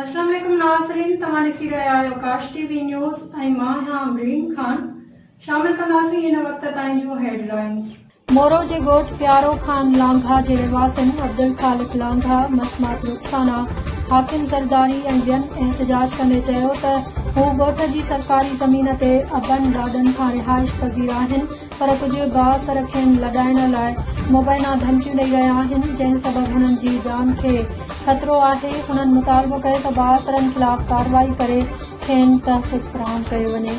السلام عليڪم ناظرين توهان ڏسي رهيا آهيو ڪاش ٽي وي نيوز ۽ مان آهيان امرين خان شامل ڪنداسين هن وقت تائين جون هيڊ لائينز. مورو جي ڳوٺ پيارو خان لانگاهه جي رهواسين عبدالخالق لانگاهه، مسمات رخسانا، حاڪم زرداري ۽ ٻين احتجاج ڪندي چيو ته هو ڳوٺ جي سرڪاري زمين تي ابن ڏاڏن کان رهائش پذير آهن پر ڪجهه گاهه سر کين لڏائڻ لاء مبينا ڌمڪيون ڏئي رهيا آهن جنهن سبب هنن جي جان کي خطرو آهي هنن مطالبو ڪيو ته بااثرن خلاف ڪارروائي ڪري کين تحفظ فراهم ڪيو وڃي.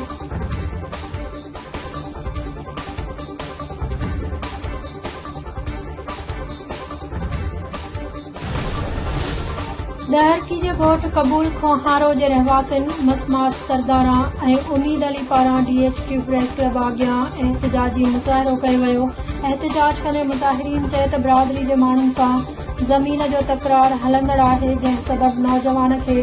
ڏهرڪي جي ڳوٺ قبول کوهارو جي رهواسين مسمات سرداران ۽ اميد علي پاران D H Q press club آگيان احتجاجي مظاهرو ڪيو ويو احتجاج ڪندي مظاهرين چئي ته برادري جي ماڻهن سان زمين جو تڪرار هلندڙ آهي جنهن سبب نوجوان کي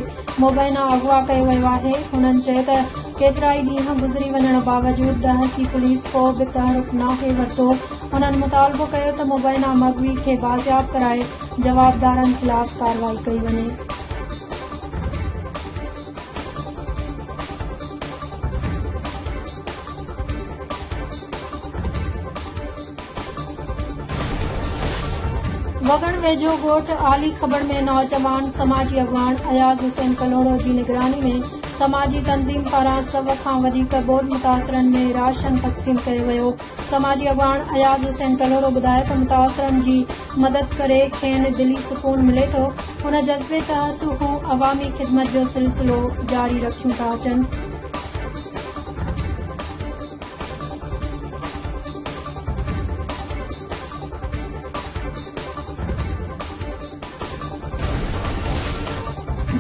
مبينا اغوا ڪيو ويو آهي هنن چئي ته ڪيترائي ڏينهن گذري وڃڻ باوجود ڏهرڪي پوليس ڪو به تحرڪ ناهي ورتو هنن مطالبو ڪيو ته مبينا مغوي کي بازياب ڪرائي جوابدارن خلاف ڪارروائي ڪئي وڃي. وڳڻ ويجهو ڳوٺ عالي کٻڙ ۾ نوجوان سماجي اڳواڻ اياز حسين ڪلهوڙو جي نگراني ۾ سماجي تنظيم پاران سؤ کان وڌيڪ ٻوڏ متاثرن ۾ راشن تقسيم ڪيو ويو. سماجي اڳواڻ اياز حسين ڪلهوڙو ٻڌايو ته متاثرن جي مدد ڪري کين دلي سڪون ملي ٿو، ان جذبي تحت هو عوامي خدمت جو سلسلو جاري رکيون ٿا اچن.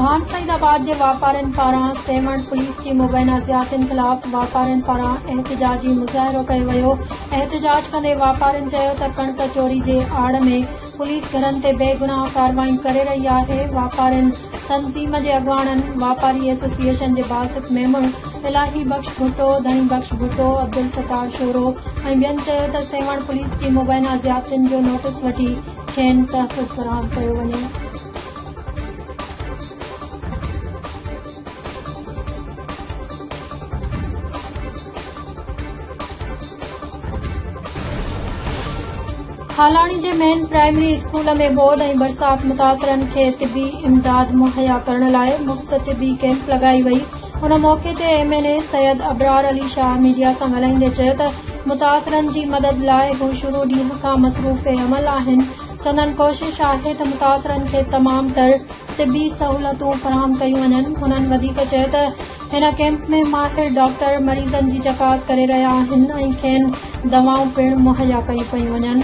ڀان سعيد آباد جي واپارين پاران سيوهڻ پوليس جي مبينا زيادتين خلاف واپارين پاران احتجاجي مظاهرو ڪيو ويو احتجاج ڪندي واپارين چيو ته ڪڻڪ چوري جي آڙ ۾ پوليس گهرن تي بي گناهه ڪارروائي ڪري رهي آهي واپارين تنظيم جي اڳواڻن واپاري ايسوسيئيشن جي باسط ميمڻ الاهي بخش ڀٽو ڌڻي بخش ڀٽو عبدالستار شورو ۽ ٻين چيو ته سيوهڻ پوليس جي مبينا زيادتين جو نوٽيس وٺي کين تحفظ فراهم ڪيو وڃي. هالاڻي جي مين پرائمري اسڪول ۾ ٻوڏ ۽ برسات متاثرن کي طبي امداد مهيا ڪرڻ لاء مفت طبي ڪئمپ لڳائي وئي ان موقعي تي M N A Syed Abrar Ali Shah media سان ڳالهائيندي چيو ته متاثرن جي مدد لاء هو شروع ڏينهن کان مصروف عمل آهن سندن ڪوشش آهي ته متاثرن کي تمام تر طبي سهولتون فراهم ڪيون وڃن هنن وڌيڪ چيو ته هن ڪيمپ ۾ ماهر ڊاڪٽر مريضن جي چڪاس ڪري رهيا آهن ۽ کين دوائون پڻ مهيا ڪيون پيون وڃن